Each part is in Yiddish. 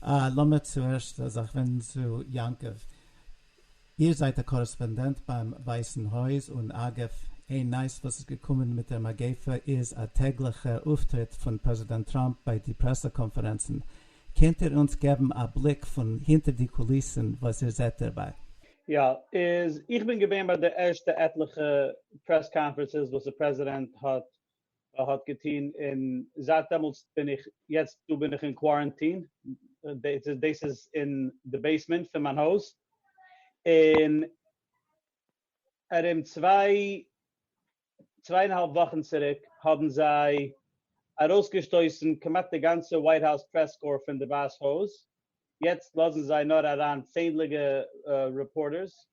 אה, לאמיר צוערשט א זאך ווענדן צו יעקב. איר זייט א קארעספאנדענט ביים ווייסן הויז, און אגב, איין נייעס וואס איז געקומען מיט דער מגיפה איז א טעגליכע אויפטריט פון פרעזידענט טראמפ ביי די פרעסע קאנפערענצן. קענט איר אונז געבן א בליק פון הינטער די קוליסן וואס איר זעט דערביי? יא, איז איך בין געווען ביי די ערשטע עטליכע פרעס קאנפערענסעס וואס די פרעזידענט האט א האט געטון און זייט דעמאלטס בין איך יעצט דא בין איך אין קווארענטין דאס איז אין די בעיסמענט פון מיין הויז און ארום צוויי צוויי און האלב וואכן צוריק האבן זיי ארויסגעשטויסן כמעט די גאנצע ווייט האוז פרעס קאר פון די ווייס הויז יעצט לאזן זיי נאר אריין צענדליגע רעפארטערס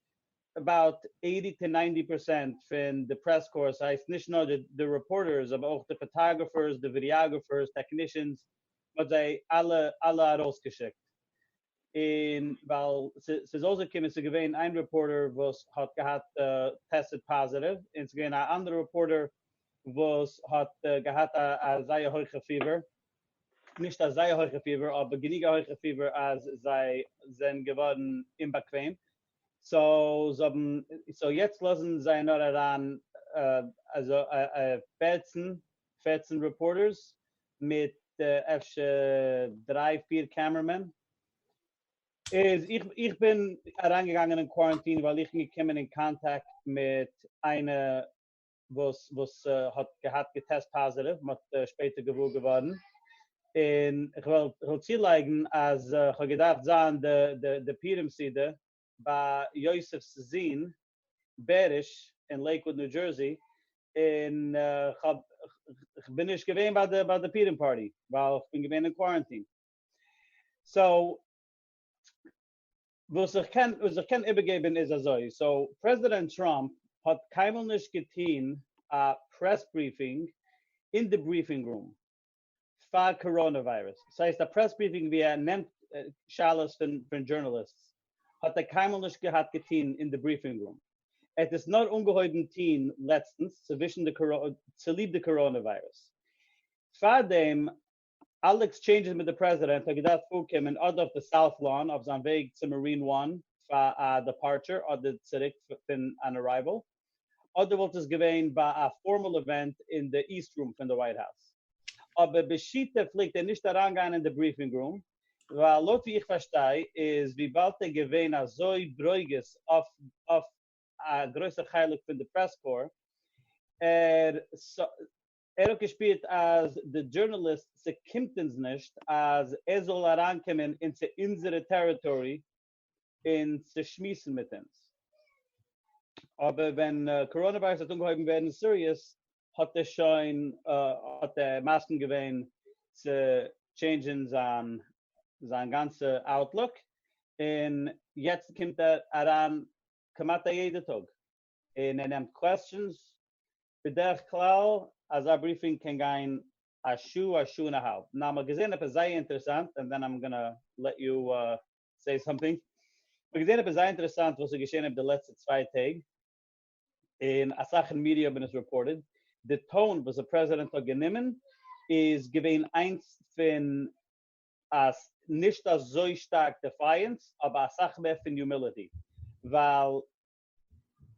אבאוט עיטי טו ניינטי פערסענט פון די פרעס קארס הייסט נישט נאר די רעפארטערס אבער אויך די פאטאגרעפערס די ווידיאגרעפערס טעקנישענס מ'האט זיי אלע אלע ארויסגעשיקט און ווייל ס'איז אויסגעקומען ס'איז געווען איין רעפארטער וואס האט געהאט טעסטעד פאזיטיוו און ס'איז געווען א אנדערע רעפארטער וואס האט געהאט א א זייער הויכע פיבער נישט א זייער הויכע פיבער אבער גענוג א הויכע פיבער אז זיי זענען געווארן אומבאקוועם סאו זיי האבן סאו יעצט לאזן זיי נאר אריין פֿערצן פֿערצן רעפארטערס מיט אפשר דריי פיר קעמערמען, איז איך בין אריינגעגאנגען אין קוואראנטין ווייל איך בין געקומען אין קאנטאקט מיט איינע וואס וואס האט געהאט געטעסט פאזעטיוו, מען האט שפעטער געוואר געווארן, און איך וועל איך וועל צולייגן אז איך האב געדארפט זיין די די די פורים סעודה ביי יוסף'ס זון בעריש אין לעיקוואד ניו דזשערסי, און איך האב איך בין נישט געווען ביי די ביי די פורים פארטי ווייל איך בין געווען אין קווארענטין, סאו. וואס איך קען וואס איך קען איבערגעבן איז אזוי, סאו פרעזידענט טראמפ האט קיינמאל נישט געטוהן א פרעס בריפינג אין די בריפינג רום פאר קאראנע וויירוס, ס'הייסט א פרעס בריפינג ווי ער נעמט שאלות פון פון דזשורנאליסטס האט ער קיינמאל נישט געהאט געטוהן אין די בריפינג רום, ער האט עס נאר אנגעהויבן טוהן לעצטנס צווישן די צוליב די קאראנע וויירוס, פארדעם אלע עקסטשעינדזשעס מיט די פרעזידענט האט געדארפט פארקומען אדער אויף די סאוט לאן אויף זיין וועג צו מארין וואן פאר א דעפארטשער אדער צוריק פון אן ארייוועל אדער וואלט עס געווען ביי א פארמאל אווענט אין די איסט רום פון די ווייט האוז אבער בשיטה פלעגט ער נישט אריינגיין אין די בריפינג רום ווייל לויט ווי איך פארשטיי איז וויבאלד ער געווען אזוי ברוגז אויף א גרויסע חלק פון די פרעס קאר ער ער האט געשפירט אז די דזשורנאליסט ס'קומט אונז נישט אז ער זאל אריינקומען און צו אונזערע טעריטארי און צו שמועסן מיט אונז, אבער ווען קאראנע וויירוס האט אנגעהויבן ווערן סיריעס האט ער שוין האט ער מסכים געווען צו טשעינדזשען זיין זיין גאנצע אוטלוק און יעצט קומט ער אריין כמעט א יעדע טאג. און ער נעמט קוועסטשענס, בדרך כלל אזא בריפינג קען גיין א שעה א שעה און א האלב, נאר מ'האט געזען עפעס זייער אינטערעסאנט, ענד דען איים גאנא לעט יו סעי סאמטינג, מ'האט געזען עפעס זייער אינטערעסאנט וואס איז געשען איבער די לעצטע צוויי טעג, און אסאך אין מידיע האבן עס רעפארטעד, די טאון וואס די פרעזידענט האט גענומען איז געווען איינס פון א נישט אזוי שטארק דעפייענס, אבער אסאך מער פון יומיליטי, ווייל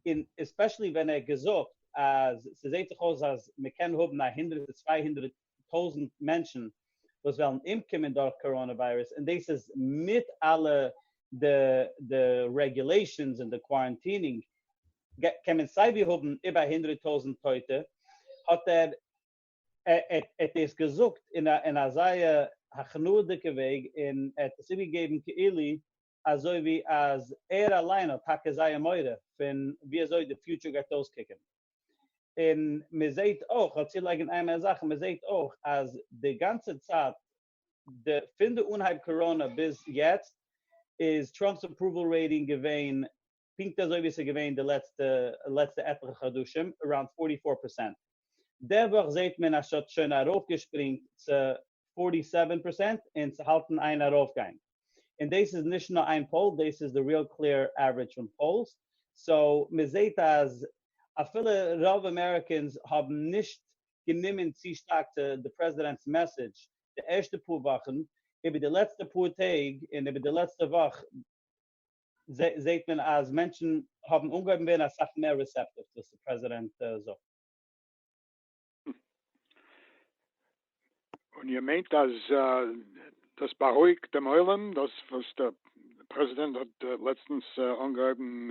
און עספעשעלי ווען ער האט געזאגט אז ס'זעהט זיך אויס אז מ'קען האבן א הונדרעט צו צוויי הונדרעט טויזענט מענטשן וואס וועלן אומקומען דורך קאראנא וויירוס און דאס איז מיט אלע די די רעגולעישאנס און די קווארענטינינג קען מען סיי ווי האבן איבער א הונדרעט טויזענט טויטע האט ער האט דאס געזאגט אין א זייער הכנעה'דיגע וועג און ער האט עס איבערגעגעבן כאילו אזוי ווי אז ער אליין האט טאקע זייער מורא פון ווי אזוי די פיוטשער גייט אויסקוקען, און מען זעהט אויך, כ'וועל צולייגען איין מער זאך, מען זעהט אויך אז די גאנצע צייט די פון די אנהייב קאראנא ביז יעצט איז טראמפ'ס אפראוועל רעיטינג געווען פונקט אזוי ווי עס איז געווען די לעצטע לעצטע עטליכע חדשים אראונד פארטי פאר פערסענט, די וואך זעט מען אז ס'האט שוין ארויפגעשפרינגט צו פארטי סעווען פערסענט און ס'האלטן איין ארויפגיין, און דאס איז נישט נאר איין פאול דאס איז די ריעל קלעיר עוורידזש פון פאולס, סאו מען זעט אז אפילו רוב אמעריקענס האבן נישט גענומען צו שטארק צו די פרעזידענט'ס מעסעדזש די ערשטע פאר וואכן, איבער די לעצטע פאר טעג און איבער די לעצטע וואך, זעהט מען אז מענטשן האבן אנגעהויבן ווערן אסאך מער ריסעפטיוו צו וואס די פרעזידענט זאגט. און איר מיינט אז דאס בארואיגט דעם עולם דאס וואס דער פרעזידענט האט לעצטנס אנגעהויבן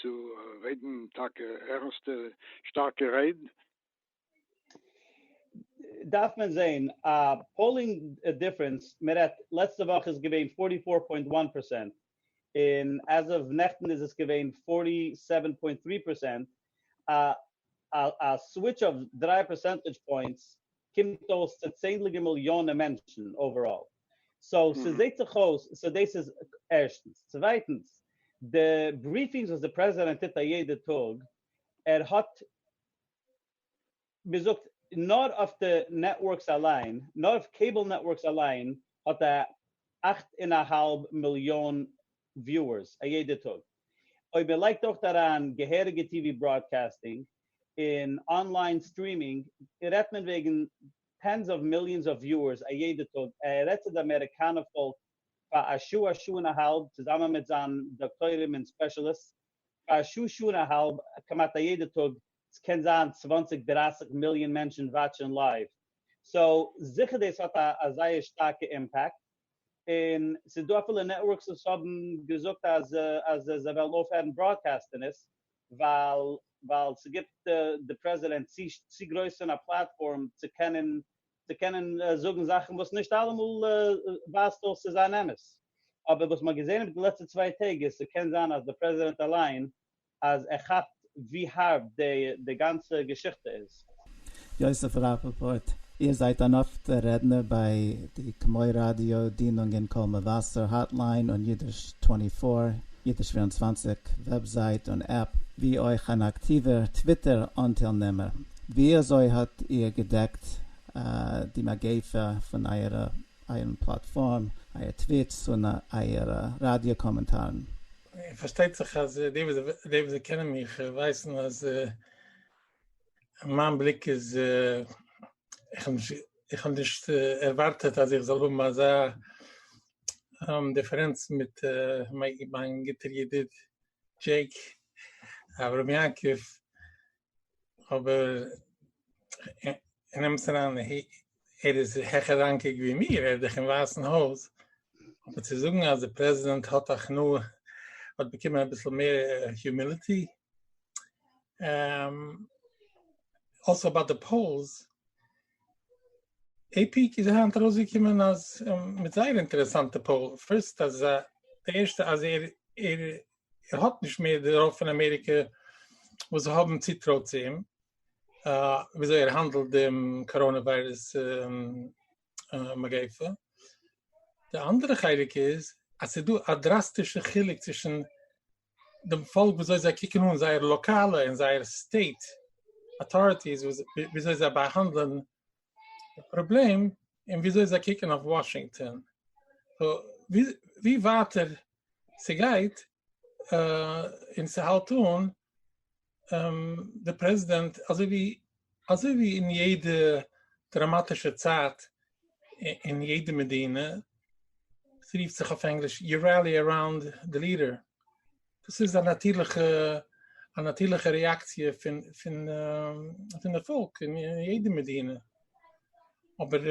צו רעדן טאקע ערנסטע שטארקע רייד? דארף מען זעהן א פאולינג דיפרענס, מען רעדט לעצטע וואך איז געווען פארטי פאר פוינט וואן פערסענט און עז אוו נעכטן איז עס געווען פארטי סעווען פוינט טרי פערסענט, א סוויטש אוו דרײַ פערסענטעדזש פוינטס קומט אויס צו צענדליגע מיליאנען מענטשן אוועראל, סאו ס'זעהט זיך אויס סאו דאס איז ערשטנס, צווייטנס די בריפינגס וואס די פרעזידענט טוט א יעדע טאג ער האט מען זאגט נאר אויף די נעטווארקס אליין, נאר אויף קעיבל נעטווארקס אליין האט א אַכט און א האלב מיליאן וויוערס א יעדע טאג, אויב מען לייגט אויך אריין געהעריגע טיווי בראדקעסטינג און אנליין סטרימינג רעדט מען וועגן טענס אוו מיליאנס אויף וויוערס א יעדע טאג, ער רעדט צו די אמעריקאנע פאלק פאר א שעה א שעה און א האלב צוזאמען מיט זיין דאקטוירים און ספעשעליסטס פאר א שעה שעה און א האלב כמעט א יעדע טאג, ס'קען זיין צוואנציג דרייסיג מיליאן מענטשן וואטשען לייוו, סאו זיכער דאס האט א א זייער שטארקע אימפעקט, און ס'איז דא אפילו נעטווארקס וואס האבן געזאגט אז אז זיי וועלן אויפהערן בראדקעסטן עס, ווייל ווייל ס'גיבט די פרעזידענט צו גרויס פון א פלאטפארם צו קענען צו קענען זאגן זאכן וואס נישט אלעמאל ווייזט אויס צו זיין אמת, אבער וואס מ'האט געזען איבער די לעצטע צוויי טעג איז ס'קען זיין אז דער פרעזידענט אליין אז ער כאפט ווי הארב די גאנצע געשיכטע איז. יוסף ראפאפארט, איר זייט אן אפטער רעדנער ביי די כמו ראדיא דינונגען קול מבשר האטליין און אידיש טווענטי פאר, אידיש פֿיר און צוואַנציק וועבזייט און עפפ, ווי אויך אן אקטיווער טוויטער אנטיילנעמער. וויאזוי האט איר געדעקט די מגיפה פון אייערן פלאטפארם, אייער טוויטס און אייערע ראדיא קאמענטארן? פארשטייט זיך אז די וואס קענען מיך ווייסן אז מיין בליק איז, איך האב נישט ערווארטעט אז איך זאל האבן אזא דיפערענץ מיט מיין גוטער ידיד דזשעיק אברהם יעקב, אבער נעמסט אריין ער איז העכער ראנקיג ווי מיר ער איז דאך אין ווייסן הויז אבער צו זאגן אז דער פרעזידענט האט הכנעה האט באקומען אביסל מער הומיליטי אלסא ביי די פאולס עי פי איז היינט ארויסגעקומען אז מיט זייער אינטערעסאנטע פאול פירסט אז די ערשטע אז ער ער האט נישט מער די רוב פון אמעריקע וואס זיי האבן צוטרוי צו אים וויאזוי ער האנדלט דעם קאראנע וויירוס מגיפה די אנדערע חלק איז אז ס'איז דא א דראסטישע חילוק צווישן דעם פאלק וויאזוי זיי קוקן אן זייער לאקאלע און זייער סטעיט אטאריטיס וויאזוי זיי באהאנדלען די פראבלעם אין וויאזוי זיי קוקן אויף וואשינגטאן ווי ווייטער ס'גייט און ס'האלט אן די פרעזידענט אזוי ווי אזוי ווי אין יעדע דראמאטישע צייט אין יעדע מדינה ס'רופט זיך אויף ענגליש יו ראלי אראונד די ליעדער דאס איז א נאטירליכע א נאטירליכע רעאקציע פון פון פון די פאלק אין יעדע מדינה אבער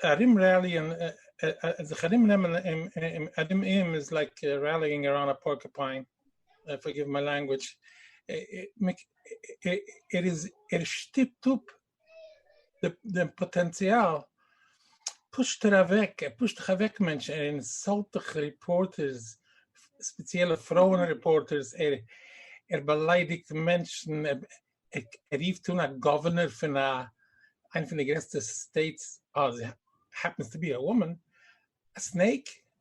ארום רעליען זיך ארום נעמען אים ארום אים איז לייק רעליענג אראונד א פארקעפיין פארגיוו מיי לענגוויטש ער איז ער שטופט אפ דעם פאטענציאל פושט ער אוועק, ער פושט דיך אוועק מענטש, ער אינסאלט דיך ריפארטערס, ספעציעלע פרויען ריפארטערס, ער ער באליידיגט מענטשן, ער רופט אן א גאווערנער פון א איינע פון די גרעסטע סטעיטס, עס העפענס טו בי א וואמען, א סנעיק,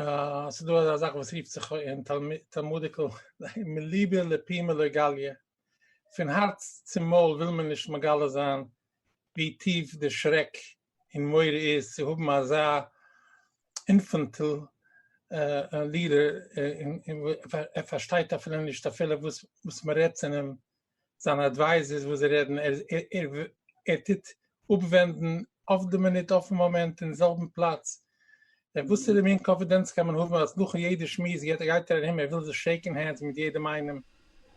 אה, ס'דא אזא זאך וואס רופט זיך אין תלמודיקל מליבא לפימא לא גליא, פון הארץ צום מויל וויל מען נישט מגלה זיין ווי טיף די שרעק און מורא איז צו האבן אזא אינפענטיל לידער, ער פארשטייט אפילו נישט אפילו וואס מ'רעדט צו אים. זיינע אדווייזערס וואס זיי רעדן, ער טוט אפווענדן אויף די מינוט, אויפן מאמענט, אין זעלבן פלאץ, דען וואסערע מין קאנפידענץ קען מען האבן אז נאכן יעדע שמועס גייט ער גייט ער ארום, ער וויל זיך שעיקן הענדס מיט יעדעם איינעם,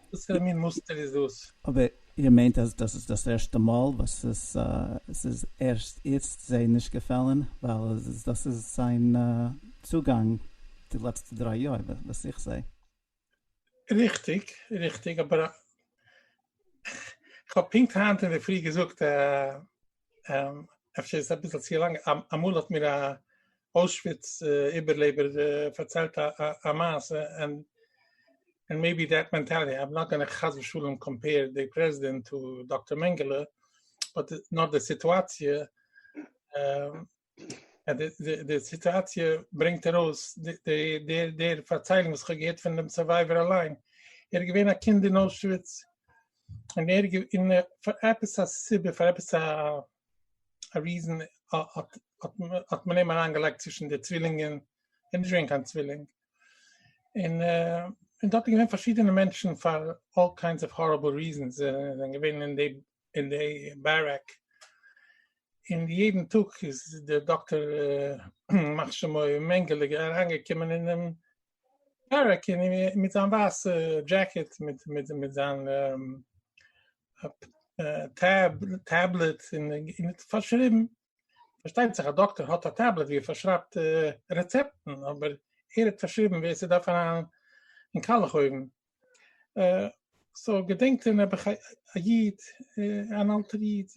וואסערע מין מוסטער איז דאס? אבער איר מיינט אז דאס איז דאס ערשטע מאל וואס עס איז ערשט איצט זיי נישט געפעלן, ווייל דאס איז זיין צוגאנג די לעצטע דריי יאר וואס איך זעה. ריכטיג, ריכטיג, אבער כ'האב פונקט היינט אינדערפרי געזאגט, אפשר איז עס אביסל צו לאנג, אמאל האט מיר א אוישוויץ איבערלעבער פארציילט א מעשה, און מעיבי דעט מענטעלעטי, איים נאט גאנע חס ושלום קאמפעיר די פרעזידענט טו דאקטער מענגעלע, באט נאר די סיטואציע די סיטואציע ברענגט ארויס די פארציילונג וואס איך האב געהערט פון דעם סורווייווער אליין, ער איז געווען א קינד אין אוישוויץ, און ער און פאר עפעס א סיבה פאר עפעס א ריזען האט מען אים אריין געלייגט צווישן די צווילינגען, ער איז נישט געווען קיין צווילינג, און דארט איז געווען פארשידענע מענטשן פאר אלל קיינדס אוו הארעבל ריזענס, זיי זענען געווען אין די אין די בארעק, און יעדן טאג איז דער דאקטער ימח שמו מענגעלע אריינגעקומען אינעם בארעק מיט זיין ווייסע דזשעקעט מיט מיט זיין טעב טעבלעט און פארשריבן פארשטייט זיך א דאקטער האט א טעבלעט ווי ער פארשרייבט רעצעפטן, אבער ער האט פארשריבן ווער ס'דארף אריין אין קאלעך אויוון. סאו געדענקט איר נעבעך א איד, אן אלטער איד,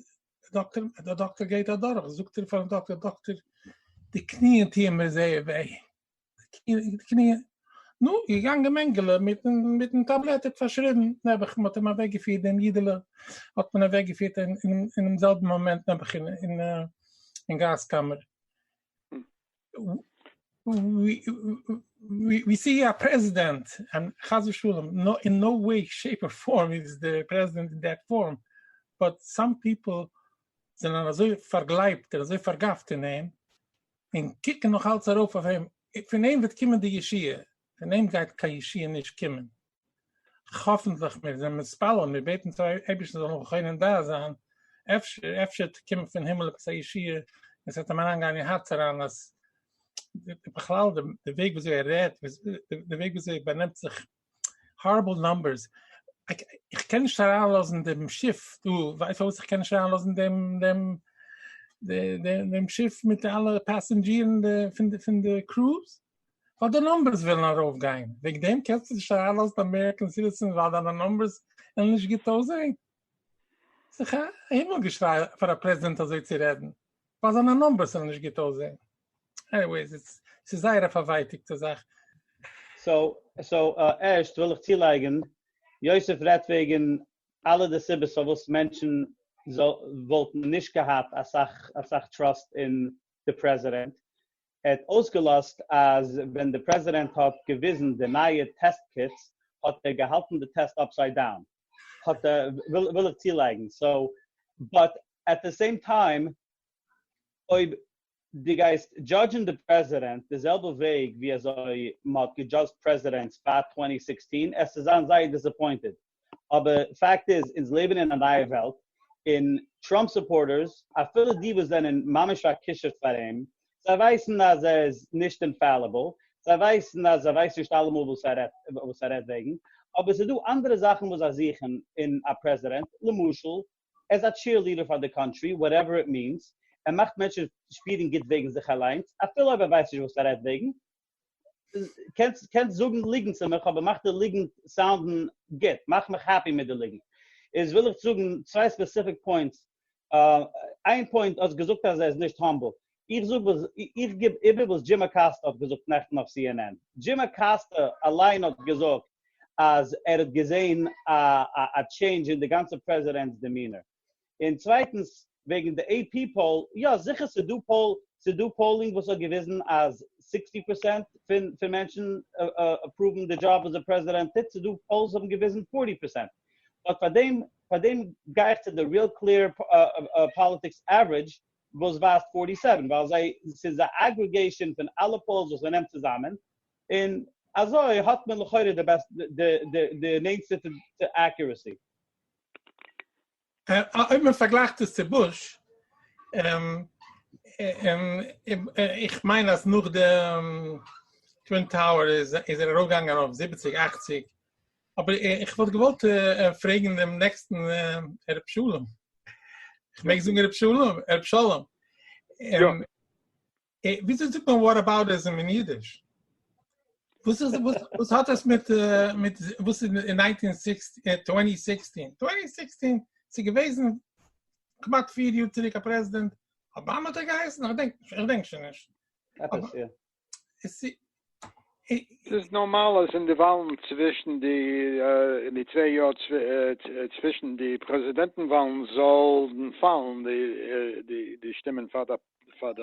דאקטער, דער דאקטער גייט אדורך, זאגט ער פארן דאקטער, דאקטער, די קניען טוען מיר זייער וויי, קניע, נו, געגאנגען מענגעלע מיטן טאבלעט האט פארשריבן, נעבעך, מ'האט אים אוועק געפירט דעם אידעלע, האט מען אוועק געפירט אינעם זעלבן מאמענט נעבעך אין גאז קאמער, ווי ס'איז א פרעזידענט, און חס ושלום, אין נאו וועי שעיפ אר פארם איז דער פרעזידענט אין דעט פארם, באט סאם פיפל זענען אזוי פארגלייבט און אזוי פארגאפט אין אים, און קוקן נאך אלץ ארויף אויף אים, פון אים וועט קומען די ישועה, פון אים גייט קיין ישועה נישט קומען, האפענטליך, מיר זענען מתפלל, מיר בעטן צו אייבערשטן זאל נאך חונן דעת זיין, אפשר, אפשר קומט פון הימל עפעס א ישועה, און ס'וועט אים אריינגיין אין הארץ אריין אז, בכלל די וועג וויאזוי ער רעדט, די וועג וויאזוי ער באנעמט זיך, הארעבל נאמבערס, איך קען נישט אריינלאזן דעם שיף דא, ווייסט אויס איך קען נישט אריינלאזן דעם שיף מיט אלע פעסענדזשירן פון די קרוז, ווייל די נאמבערס ווילן ארויפגיין, וועגן דעם קענסטו נישט אריינלאזן אמעריקען סיטיזענס ווייל דיינע נאמבערס וועלן נישט גוט אויסזען? ס'איז א הימל געשריי פאר א פרעזידענט אזוי צו רעדן, ווייל זיינע נאמבערס זאלן נישט גוט אויסזעהן. עניוועיס, ס'איז זייער א פארווייטיגטע זאך. סאו ערשט וויל איך צולייגן, יוסף רעדט וועגן אלע די סיבות פארוואס מענטשן וואלטן נישט געהאט אסאך טראסט אין די פרעזידענט, ער האט אויסגעלאזט אז ווען די פרעזידענט האט געוויזן די נייע טעסט קיטס האט ער געהאלטן די טעסט אפסייד דאון, האט ער, וויל איך צולייגן, סאו, באט עט די סעים טיים אויב דו גייסט דזשאדזשן די פרעזידענט די זעלבע וועג ווי אזוי מען האט געדזשאדזשט פרעזידענטס פאר צוואַנציק זעכצן, עסט זיין זייער דיסעפוינטעד. אבער פאקט איז אונז לעבן אין א נייע וועלט און טראמפ סופארטערס אפילו די וואס זענען ממש פארקושעט פאר אים זיי ווייסן אז ער איז נישט אינפעליבעל זיי ווייסן אז ער ווייסט נישט אלעמאל וואס ער רעדט וואס ער רעדט וועגן אבער ס'איז דא אנדערע זאכן וואס זיי זוכן אין א פרעזידענט למשל ער איז א טשיערליעדער פאר די קאנטרי וואטעווער איט מיענס ער מאכט מענטשן שפירן גוט וועגן זיך אליינס אפילו אויב ער ווייסט נישט וואס ער רעדט וועגן קענסט קענסט זאגן ליגנט צו מיך אבער מאך די ליגנט סאונדן גוט, מאך מיך העפי מיט די ליגנט. איז וויל איך זאגן צוויי ספעסיפיק פוינטס, איין פוינט האסט געזאגט אז ער איז נישט האמבל, איך זאג וואס איך גיב איבער וואס דזשים אקאסטא האט געזאגט נעכטן אויף סי ען ען, דזשים אקאסטא אליין האט געזאגט אז ער האט געזען א טשעינדזש אין די גאנצע פרעזידענט'ס דעמינער. און צווייטנס וועגן די עי פי פאול, יא זיכער ס'איז דא פאול, ס'איז דא פאולינג וואס האט געוויזן אז סיקסטי פערסענט פון פון מענטשן אפראוון די דזשאב וואס די פרעזידענט טוט, ס'איז דא פאולס וואס האבן געוויזן פארטי פערסענט, באט פאר דעם פאר דעם גיי איך צו די ריעל קלעיר פאליטיקס עוורידזש וואס ווייזט פארטי סעווען ווייל זיי ס'איז א אגריגעישאן פון אלע פאולס וואס מ'נעמט צוזאמען און אזוי האט מען לכאורה די בעסטע די נענטסטע צו אקוראסי. אויב מען פארגלייכט עס צו בוש, איך מיין אז נאך די טווין טאוער איז ער ארויפגעגאנגען אויף זיבעציג אכציג, אבער איך וואלט געוואלט פרעגן דעם נעקסטן ר' שלום, איך מעג זאגן ר' שלום? ר' שלום, וויאזוי זאגט מען וואטאבאוטיזם אין אידיש? וואס איז וואס וואס האט עס מיט מיט וואס אין 1960 2016 2016 צו געוועזן כמעט פיר יאר צוריק א פרעזידענט אבאמא האט ער געהייסן איך דענק איך דענק שוין נישט עפעס יא עס איז נארמאל אז אין די וואלן צווישן די אין די צוויי יאר צווישן די פרעזידענטן וואלן זאלן פאלן די שטימען פאר די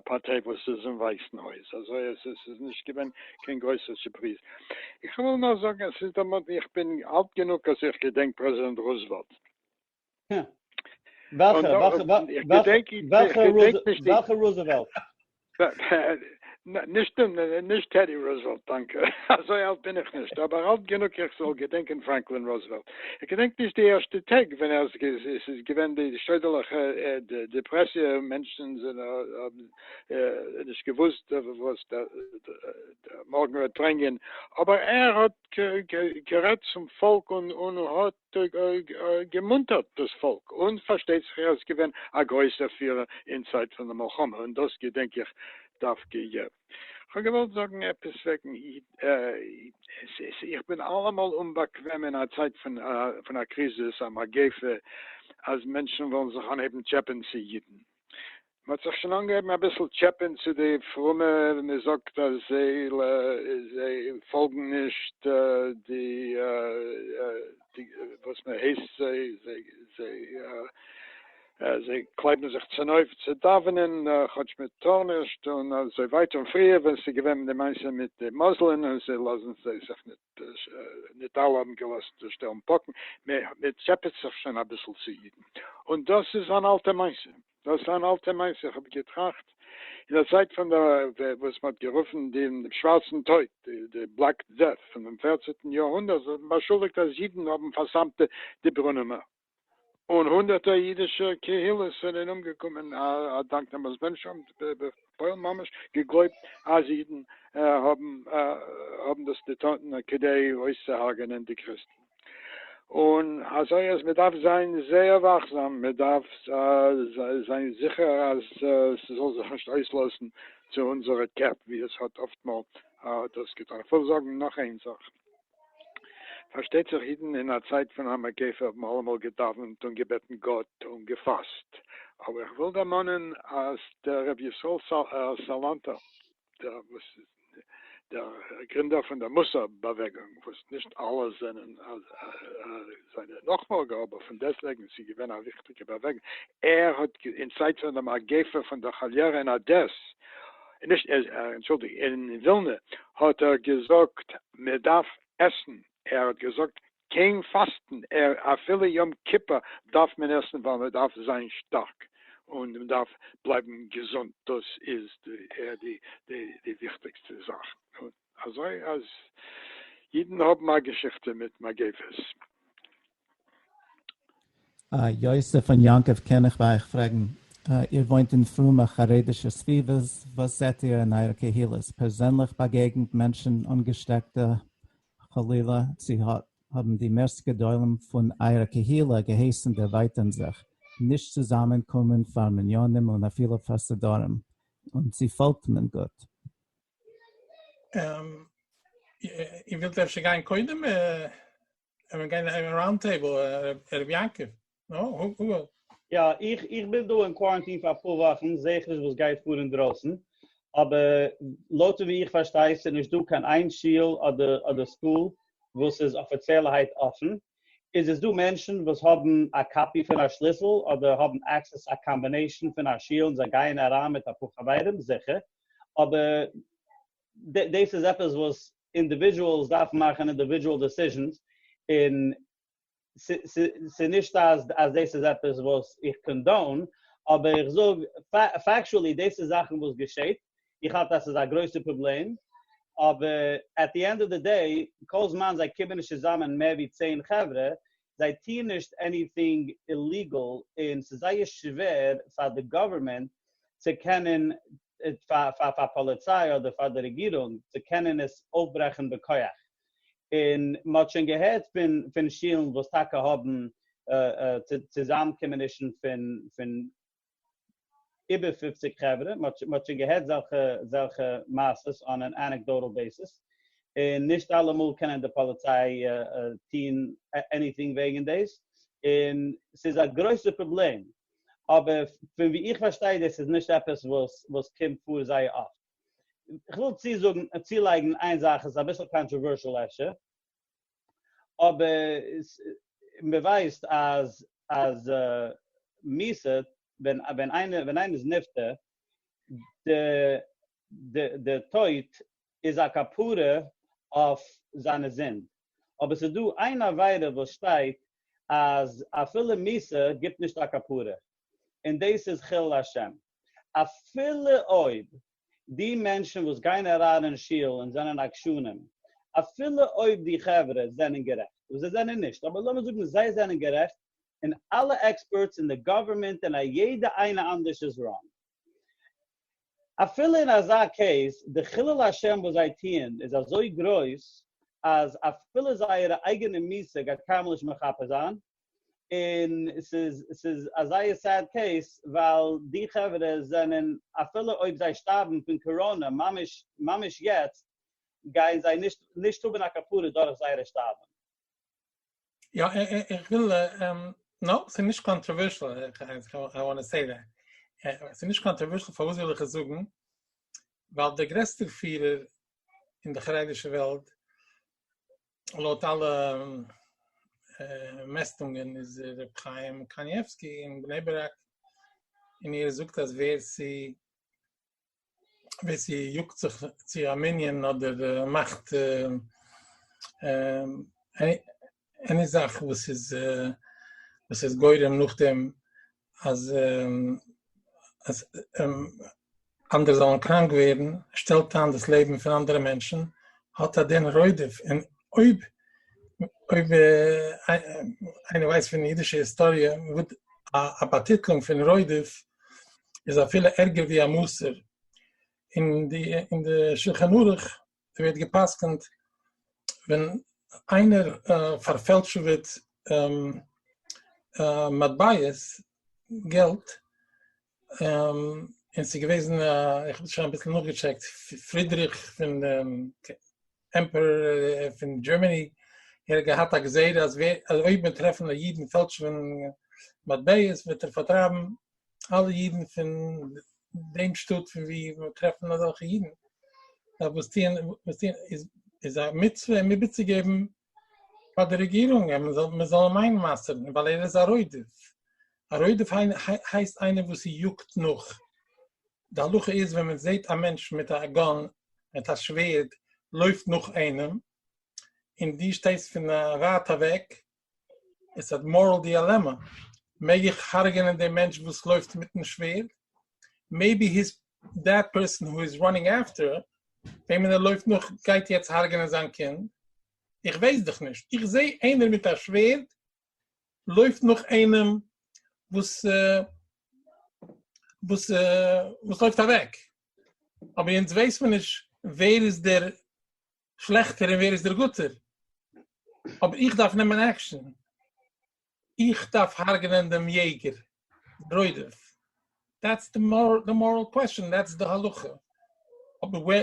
פארטיי וואס איז אין ווייסן הויז, אזוי אז עס איז נישט געווען קיין גרויסע סורפריז. איך וויל נאר זאגן, עס איז דערמאנט מיר, איך בין אלט גענוג אז איך געדענק פרעזידענט רוזוועלט, וועלכע רוזעוועלט? נישט טעדי רוזעוועלט, דאנקע. אזוי אלט בין איך נישט, אבער אלט גענוג איך זאל געדענקען פרענקלין רוזעוועלט. איך געדענק נישט די ערשטע טעג ווען עס איז געווען די שוידערליכע דעפרעסיע, מענטשן האבן נישט געוואוסט וואס דער מארגן וועט ברענגען, אבער ער האט גערעדט צום פאלק און האט געמונטערט דאס פאלק, און פארשטייט זיך ער איז געווען א גרויסער פירער אין צייט פון די מלחמה, און דאס געדענק איך דווקא יעצט. כ'האב געוואלט זאגן עפעס וועגן אידן, איך בין אלעמאל אומבאקוועם אין א צייט פון א קריזיס, א מגיפה, אז מענטשן וועלן זיך אנהייבן טשעפען צו אידן, מען האט זיך שוין אנגעהויבן אביסל טשעפען צו די פרומע, מען זאגט אז זיי פאלגן נישט די וואס מען הייסט זיי, זיי קלייבן זיך צונויף צו דאווענען כאטש מען טאר נישט און אזוי ווייטער, און פריער ווען ס'איז געווען די מעשה מיט די מוזלען און זיי לאזן זיי זיך נישט, נישט אלע האבן געלאזט שטעלן פאקן, מען טשעפעט זיך שוין אביסל צו אידן, און דאס איז אן אלטע מעשה. דאס איז אן אלטע מעשה, איך האב געטראכט אין די צייט פון די וואס מען האט גערופן דעם שווארצן טויט, די בלעק דעט, פונעם פערצענטן יאר הונדערט, זיי האבן באשולדיגט אז אידן האבן פארסמט די ברונעמער, און הונדערטער אידישע קהילות זענען אומגעקומען אדאנק דעם אז מענטשן האבן. פוילן ממש געגלויבט אז אידן האבן דאס געטון כדי אויסצוהרג'ענען די קריסטן, און אזוי אז מען דארף זיין זייער וואכזאם, מען דארף זיין זיכער אז ס'זאל זיך נישט אויסלאזן צו אונזערע קעפ ווי עס האט אפטמאל האט עס געטון. איך וויל זאגן נאך איין זאך. פארשטייט זיך אידן אין א צייט פון א מגיפה האבן אלעמאל געדאווענט און געבעטן גאט און געפאסט, אבער איך וויל דערמאנען אז דער רבי ישראל סאלאנטער דער וואס דער גרינדער פון דער מוסר באוועגונג, וואס נישט אלע זענען זיינע נאכפאלגער, אבער פון דעסט וועגן ס'איז געווען א וויכטיגע באוועגונג, ער האט אין צייט פון דער מגיפה פון דער כאליערע אין אדעס, נישט, אנטשולדיגט, אין ווילנע, האט ער געזאגט מען דארף עסן, ער האט געזאגט קיין פאסטן, ער אפילו יום כיפור דארף מען עסן ווייל מען דארף זיין שטארק און מען דארף בלייבן געזונט, דאס איז די די וויכטיגסטע זאך, און אזוי אז אידן האבן א געשיכטע מיט מגיפות. אה, יוסף און יעקב קען איך ביי אייך פרעגן, איר וואוינט אין פרומע חרדישע סביבות, וואס זעט איר אין אייערע קהילות, פערזענליך באגעגנט מענטשן אנגעשטעקטע חלילה, צו האבן די מערסט גדולים פון אייערע קהילה געהייסן דערווייטערן זיך, נישט צוזאמען קומען פאר מניינים און אפילו פאר סדרים, און צו פאלגט מען גוט? איר ווילט אפשר גיין קודם? ער וועט גיין אין ראונד טעיבל ערעב יעקב, נו הוגוו. יא איך איך בין דא אין קוואראנטין פאר אפאר וואכן זעה איך נישט וואס גייט פאר אינדרויסן, אבער לויט ווי איך פארשטיי איז נישט דא קיין איין שול אדער אדער סקול וואס איז אפיציעלערהייט אפן, איז עס דא מענטשן וואס האבן א קאפי פון א שליסל אדער האבן עקסעס א קאמבינעישן פון א שול און זיי גייען אריין מיט אפאר חברים? זיכער, אבער דעס איז עפעס וואס אינדיווידועלס דארפן מאכן אינדיווידועל דעסיזשענס, און ס'איז נישט אז דאס איז עפעס וואס איך קאנדאון, אבער איך זאג פעקטשועלי דאס איז זאכן וואס געשעט, איך האלט אז ס'איז א גרויסע פראבלעם, אבער עט די ענד אוו די דעי, כל זמן זיי קומען נישט צוזאמען מער ווי צען חברה, זיי טוהן נישט עניטינג איליגעל, און ס'איז זייער שווער פאר די גאווערמענט צו קענען פאר פאר פאר פאליציי אדער פאר די רעגירונג צו קענען עס אויפברעכן בכח, און מען האט שוין געהערט פון פון שולן וואס טאקע האבן צוזאמקומענישן פון פון איבער פופציג חברה, מען האט שוין געהערט זעלכע זעלכע מעשות אן אן אנעקדאטעל בעיסיס, און נישט אלעמאל קענען די פאליציי טון עניטינג וועגן דאס, און ס'איז א גרויסע פראבלעם, אבער פון ווי איך פארשטיי דאס איז נישט עפעס וואס וואס קומט פאר זייער אפט. איך וויל צוזאגן צולייגן איין זאך איז אביסל קאנטראווערשעל אפשר, אבער מען ווייסט אז אז מיסד ווען ווען איינער ווען איינער איז נפטר די די די טויט איז א כפרה אויף זיינע זינד, אבער ס'איז דא איין עבירה וואס שטייט אז אפילו מיתה גיבט נישט א כפרה, און דאס איז חילול השם. אפילו אויב די מענטשן וואס גייען אריין אין שול און זענען עקשנים, אפילו אויב די חברה זענען גערעכט, וואס זיי זענען נישט, אבער לאמיר זאגן זיי זענען גערעכט, און אלע עקספערטס און די גאווערמענט און א יעדע איינע אנדערש איז ראנג. אפילו אין אזא קעיס, די חילול השם וואס זיי טוען איז אזוי גרויס, אז אפילו זייערע אייגענע מיסה גייט קיינמאל נישט מכפר זיין, און ס'איז ס'איז א זייער סעד קעיס, ווייל די חברה זענען, אפילו אויב זיי שטארבן פון קאראנע ממש ממש יעצט, גייען זיי נישט נישט האבן א כפרה דורך זייערע שטארבן. יא איך וויל נאופ ס'איז נישט קאנטראווערשל איך וואנט סעי דעט ס'איז נישט קאנטראווערשל פארוואס וויל איך עס זאגן ווייל דער גרעסטער פירער אין די חרדישע וועלט לויט אלע מעסטונגען איז ר' חיים קנייבסקי אין בני ברק און ער זאגט אז ווער ס'איז ווער ס'יאגט זיך צו א מנין אדער מאכט עני זאך וואס איז וואס איז גורם נאכדעם אז אנדערע זאלן קראנק ווערן, שטעלט איין דאס לעבן פון אנדערע מענטשן, האט א דין רודף, און אויב אויב איינער ווייסט פון אידישע היסטאריע א באטיטלונג פון רודף איז אפילו ערגער ווי א מוסר, אין די אין די שלחן ערוך ווערט גע'פסק'נט ווען איינער פארפעלטשעוועט מטבעות, געלט, און ס'איז געוועזן א, איך האב שוין אביסל נאכגעטשעקט, פרידריך פון. עמפערער פון דזשערמעני ער האט געהאט א גזירה אז אויב מען טרעפן א איד און פעלטשעווען מטבעות וועט ער פארטרייבן אלע אידן פון דעם שטאט פון ווי מען טרעפן אזעלכע אידן דארף וואס טוהן וואס טוהן איז איז א מצוה אים איבערצוגעבן פאר די רעגירונג אז מען זאל אים איינמאסערן ווייל ער איז א רודף, א רודף הייסט איינער וואס איז יאגט נאך די הלכה איז ווען מען זעהט א מענטש מיט א גאן מיט א שווערד לויפט נאך איינעם און דו שטייסט פון א ווייט אוועק איטס א מארעל דיעלעמא מעג איך הרג'נען דעם מענטש וואס לויפט מיטן שווערד מעיבי היז דעט פערסאן הו איז ראנינג אפטער וועמען ער לויפט נאך גייט יעצט הרג'נען זיין קינד איך ווייס דאך נישט איך זעה איינער מיט א שווערד לויפט נאך איינעם וואס וואס וואס לויפט אוועק, אבער אונז ווייס מען נישט ווער איז דער שלעכטער און ווער איז דער גוטער, אבער איך דארף נעמען עקשאן, איך דארף הרג'נען דעם יעגער, רודף, דעטס די מאראל קוועסטשאן, דעטס די הלכה, אבער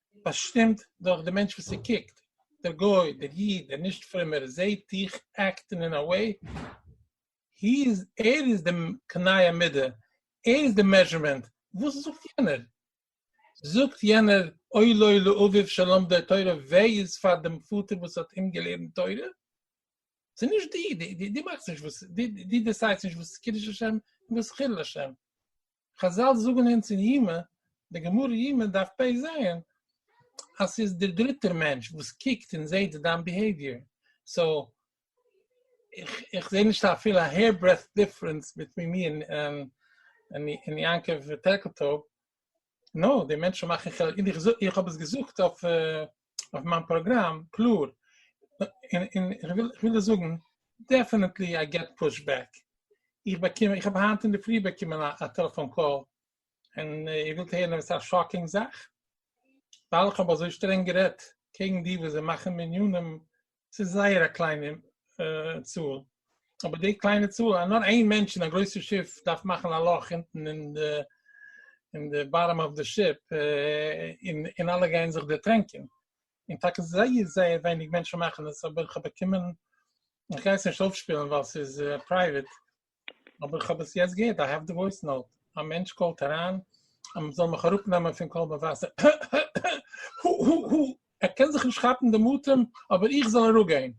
באשטימט דורך די מענטש וואס ער קוקט, דער גוי, דער איד, דער נישט פרומער, זעהט דיך עקטן אין א וועי, הי איז, ער איז די קנאי המידה, ער איז די מעזשערמענט, וואס זאגט יענער? זאגט יענער אוי לו לאביו שלמדו תורה, וויי איז פאר דעם פאטער וואס האט אים געלערנט תורה, ס'איז נישט דו, דו מאכסט נישט וואס, דו דעסיידסט נישט וואס איז קידוש השם און וואס איז חילול השם. חזל זאגן אונז אין יומא, די גמרא יומא דף פ ז, אז ס'איז דער דריטער מענטש וואס קוקט און זעט דיין ביהעיוויער, סאו איך זעה נישט אפילו א העיר ברעדט דיפרענס ביטווין מיר און יעקב טערקעל טויב, נאר די מענטשן מאכן חילוק, איך האב עס געזאגט אויף אויף מיין פראגראם, קלאר, און און איך וויל איך וויל דיר זאגן, דעפענעטלי איי געט פוש בעק, איך באקום, איך האב היינט אינדערפרי באקומען א א טעלעפאן קאל, און איר ווילט הערן עפעס א שאקינג זאך? ווייל איך האב אזוי שטרענג גערעדט קעגן די וואס זיי מאכן מניינים ס'איז זייער א קליינע צאל, אבער די קליינע צאל אז נאר איין מענטש אין א גרויסע שיף דארף מאכן א לאך אונטן אין די אין די באטאם אוו די שיפ און און אלע גייען זיך דערטרענקען, און טאקע זייער זייער ווייניג מענטשן מאכן עס, אבער כ'האב באקומען, כ'גיי עס נישט אויפשפילן ווייל ס'איז פרייוועט, אבער איך האב עס יעצט געהערט, איי העוו די וואויס נאוט, א מענטש קאלט אריין אז מען זאל מיך אראפ נעמען פון קול מבשר, הו הו הו הו, ער קען זיך נישט כאפן דעם אטעם, אבער איך זאל אראפ גיין,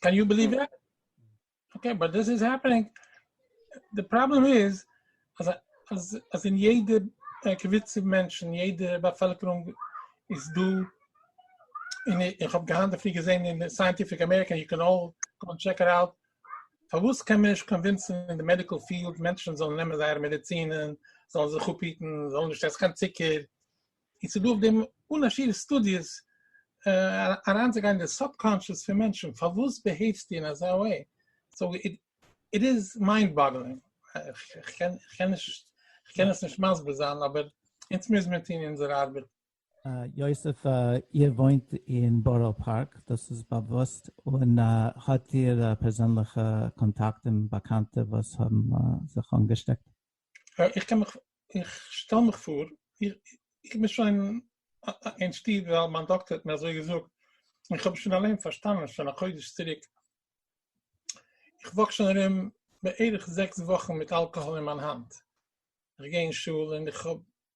קען יו ביליוו דעט? אקעי, באט דיס איז העפענינג, די פראבלעם איז אז אז אז אין יעדע קבוצה מענטשן, יעדע באפעלקערונג איז דא, און איך האב היינט דערפרי געזען אין סייענטיפיק אמעריקא, יו קען אלל גאו ענד טשעק איט אוט, פארוואס קען מען נישט קאנווינסן אין די מעדיקל פיעלד מענטשן זאלן נעמען זייערע מעדיצינען, זאלן זיך אפהיטן, זאלן נישט עסן קיין צוקער, און ס'איז דא אויף דעם אן א שיעור סטודיעס אריינצוגיין אין די סובקאנשעס פון מענטשן, פארוואס ביהעיוו'סטו אין אזא וועי? סאו איט איז מיינד באגלינג, איך קען עס נישט מסביר זיין אבער אונז מוז מיר טון אונזער ארבעט. יוסף, איר וואוינט אין בארא פארק, דאס איז באוואוסט, און האט איר פערזענליכע קאנטאקטן, באקאנטע וואס האבן זיך אנגעשטעקט? איך קען מיך, איך שטעל מיך פאר, איך בין שוין אין שטוב ווייל מיין דאקטער האט מיר אזוי געזאגט, און איך האב שוין אליין פארשטאנען שוין א חודש צוריק, איך וואק שוין ארום בערך זעקס וואכן מיט אלקאהאל אין מיין האנט, איך גיי אין שול און איך האב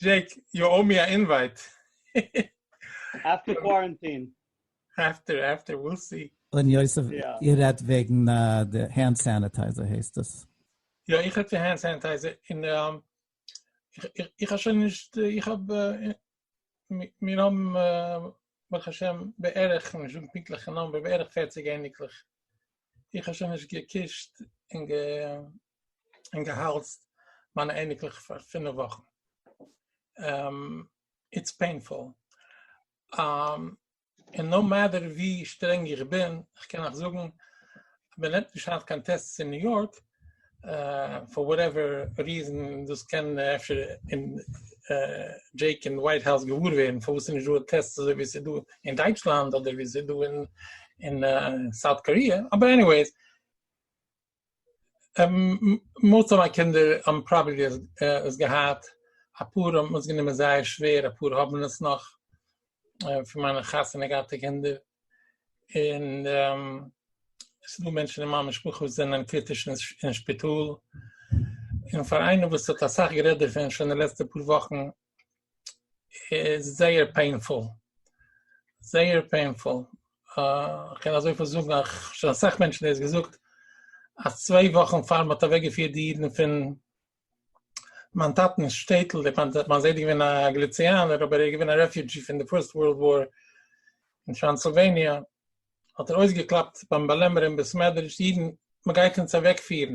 דזשעיק, יו או מי א אינווייט. עפטער קווארענטין. עפטער עפטער וויל סי. און יוסף, איר רעדט וועגן די הענד סעניטייזער הייסט עס? יא איך רעדט פון הענד סעניטייזער און איך האב שוין נישט איך האב מיר האבן ברוך השם בערך כ'קען נישט זאגן פונקטליכע נומבער בערך פערציג אייניקלעך איך האב שוין נישט געקישט און און געהאלזט מיינע אייניקלעך פאר פינף וואכן, איטס פעינפול, און נאו מעטער ווי שטרענג איך בין, איך קען אייך זאגן, מען נעמט נישט היינט קיין טעסטס אין ניו יארק, פאר וואטעווער ריזען, דאס קען אפשר דזשעיק אין ווייט האוז געוואר ווערן פארוואס ס'איז נישטא טעסטס אזוי ווי ס'איז דא אין דייטשלאנד אדער ווי ס'איז דא אין סאוט קאריע, אבער עניוועיס, מאָלט אָן אַ קינדער האָבן פּראַבעלי עס געהאַט, אַ פּאָר האָבן עס גענומען זייער שווער, אַ פּאָר האָבן עס נאָך פֿון מײַנע חתונה-געהאַטע קינדער, און עס איז דאָ מענטשן אין מײַן משפּחה וואָס זענען קריטיש אין שפּיטאָל, און פֿאַר איינעם וואָס האָט אַ סך גערעדט דערפֿון שוין די לעצטע פּאָר וואָכן, איז זייער פעינפול, זייער פעינפול, כ'קען אזויפיל זאגן אז כ'האב שוין אסאך מענטשן דאס געזאגט, אז צוויי וואכן פאר מ'האט אוועק געפירט די אידן פון מיין טאטנ'ס שטעטל, מיין זיידע איז געווען א גליציאנער אבער ער איז געווען א רעפיודזשי פון די פירסט ווארלד וואר אין טראנסילוועניע, האט ער אויסגעקלאפט ביים באלעמערער אין בעסמעדרידזש די אידן מ'גייט אונז אוועק פירן,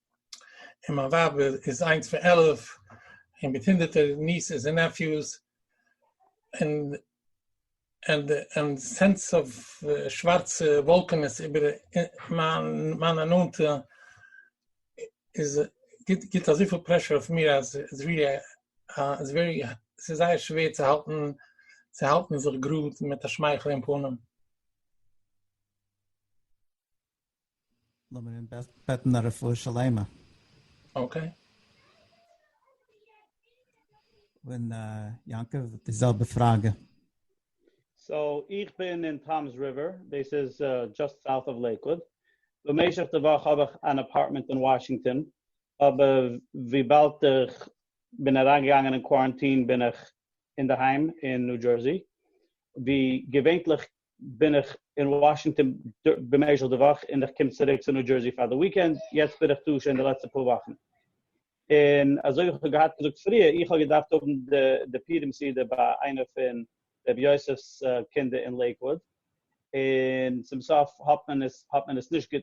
און מיין ווייב איז איינס פון עלף, און מיט הונדערטער ניעסעס און נעפיוס, און און סענס אוו שווארצע וואלקענעס איבער מיינע נאנטע, איז גיבט אזויפיל פרעשור אויף מיר אז איז ווערי ס'איז זייער שווער צו האלטן צו האלטן זיך גראד מיט א שמייכל אין פנים. לאמיר אים בעטן א רפואה שלימה. אקעי. און יעקב די זעלבע פראגע. סאו איך בין אין טאמס ריווער, דאס איז דזשאסט סאוט אוו לעיקוואד, במשך די וואך האב איך אן אפארטמענט אין וואשינגטאן, אבער וויבאלד איך בין אריינגעגאנגען אין קוואראנטין בין איך אינדערהיים אין ניו דזשערסי, ווי געווענטליך בין איך אין וואשינגטאן במשך די וואך און איך קום צוריק צו ניו דזשערסי פאר די וויקענד, יעצט בין איך דא שוין די לעצטע פאר וואכן. און אזוי ווי איך האב געהאט געזאגט פריער, איך האב געדארפט האבן די פורים סעודה ביי איינע פון רבי יוסף'ס קינדער אין לעיקוואוד, און צום סוף האט מען עס האט מען עס נישט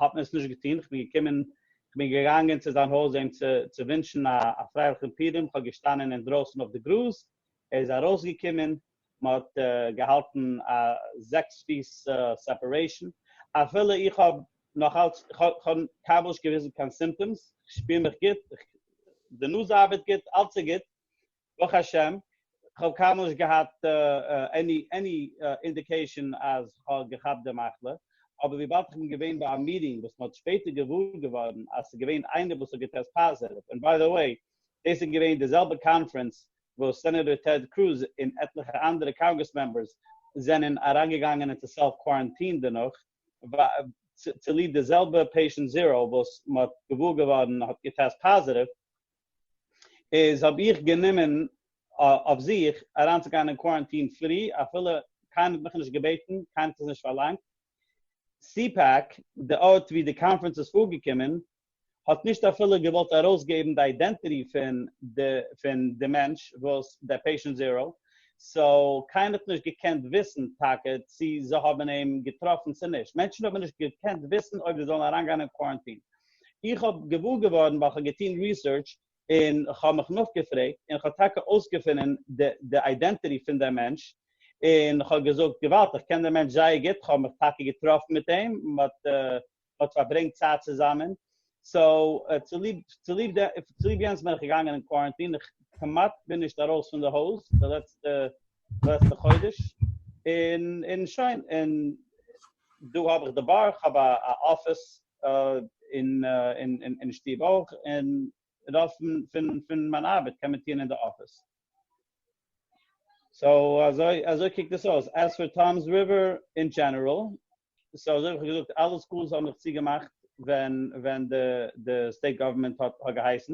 האט מען עס נישט געטון, איך בין געקומען איך בין געגאנגען צו זיין הויז אים צו צו ווינטשן א פרייליכן פורים, איך האב געשטאנען אינדרויסן אויף די גראז, ער איז ארויסגעקומען, מען האט געהאלטן א זעקס פיס סעפערעישן, אפילו איך האב נאך אלץ, כ'האב קיין מאל נישט געוויזן קיין סימפטאמס, כ'שפיר מיך גוט, די נאז ארבעט גוט, אלץ איז גוט ברוך השם, כ'האב קיינמאל נישט געהאט עני עני אינדיקעישן אז כ'האב געכאפט די מחלה, אבער וויבאלד כ'בין געווען ביי א מיטינג וואס מ'האט שפעטער געוואר געווארן אז ס'איז געווען איינער וואס האט געטעסט פאזעטיוו, און ביי די וועי דאס איז געווען די זעלבע קאנפרענס וואס סענעטאר טעד קרוז און עטליכע אנדערע קאנגרעס מעמבערס זענען אריינגעגאנגען אונטער סעלף קוואראנטין דערנאך, צוליב די זעלבע פעישענט זיראו וואס מען האט געוואר געווארן האט געטעסט פאזיטיוו, איז האב איך גענומען אויף זיך אריינצוגיין אין קוואראנטין פרי, אפילו קיינער האט מיך נישט געבעטן, קיינער האט עס נישט פארלאנגט. סי-פעק, די ארט וואו די קאנפרענס איז פארגעקומען, האט נישט אפילו געוואלט ארויסגעבן די אידענטיטי פון די פון די מענטש וואס די פעישענט זירא סאו קיינער האט נישט געקענט וויסן טאקע צו זיי האבן אים געטראפן צו נישט מענטשן האבן נישט געקענט וויסן אויב זיי זאלן אריינגיין אין קווארענטין איך האב געוואר געווארן ווייל כ'האב געטון ריסערטש און כ'האב מיך נאכגעפרעגט און כ'האב טאקע אויסגעפונען די די אידענטיטי פון די מענטש און כ'האב געזאגט געוואלד כ'קען די מענטש זייער גוט כ'האב מיך טאקע געטראפן מיט אים מ'האט האט פארברענגט צייט צוזאמען, סאו צוליב צוליב צוליב יענס בין איך געגאנגען אין קווארענטין, איך כמעט בין נישט ארויס פון די הויז די לעצטע די לעצטע חודש, און און שוין, און דא האב איך די באר, איך האב א א אפיס אין אין אין שטוב אויך, און רוב פון פון פון מיין ארבעט קען מען טוען אין די אפיס. סאו אזוי אזוי קוקט עס אויס, עז פאר טאמס ריווער אין דזשענעראל, סאו אזוי ווי כ'האב געזאגט אלע סקולס האבן זיך צוגעמאכט ווען ווען די די סטעיט גאווערמענט האט האט געהייסן,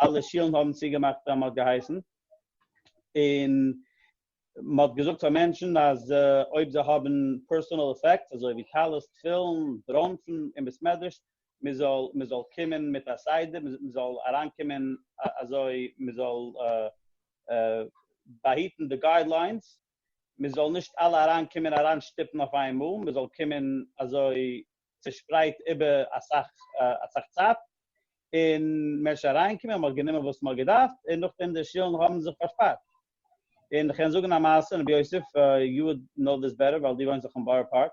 אלע שילן האבן צוגעמאכט ווען מ'האט געהייסן, און מ'האט געזאגט פאר מענטשן אז אויב זיי האבן פערסאנעל עפעקטס אזוי ווי טלית, תפילין, ברוינפן, אין בית מדרש, מ'זאל מ'זאל קומען מיט א סדר, מ'זאל אריינקומען אזוי מ'זאל באהיטן די גיידליינס. מען זאל נישט אלע אריין קומען אריין שטופן אויף איינמאל, מען זאל קומען אזוי צושפרייט איבער אסאך אסאך צייט, און מען איז שוין אריין געקומען, מען האט גענומען וואס מען האט געדארפט, און נאכדעם די שולן האבן זיך פארשפארט. און כ'קען זאגן א מעשה, רבי יוסף, יו וואלד נאו דיס בעטער ווייל דו וואוינסט דאך אין בארא פארק.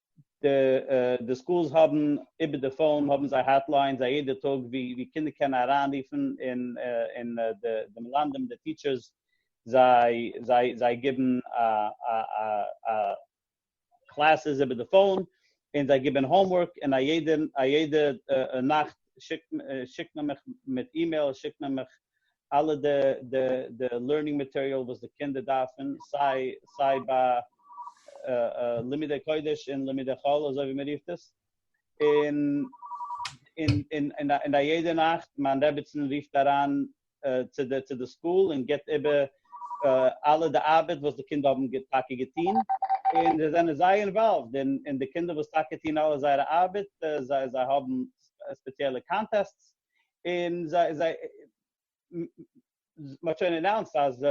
די די סקולס האבן איבער די פאון האבן זיי האטליינס א יעדע טאג ווי ווי קינדער קענען אריינרופן און און די די מלמדים די טיטשערס זיי זיי זיי גיבן א א א א קלעסעס איבער די פאון און זיי גיבן האומווארק און א יעדע א יעדע נאכט שיקט שיקט מען מיך מיט אימעיל שיקט מען מיך אלע די די די לערנינג מאטעריאל וואס די קינדער דארפן, סיי סיי ביי לימודי קודש און לימודי חול אזוי ווי מען רופט עס, און און און און א יעדע נאכט מיין רעביצען רופט אריין צו די צו די סקול און גיבט איבער אלע די ארבעט וואס די קינדער האבן טאקע געטון, און זיי זענען זייער אינוואלווד און און די קינדער וואס טאקע טון אלע זייערע ארבעט זיי זיי האבן ספעציעלע קאנטעסטס, און זיי זיי מ'האט שוין אנאונסט אז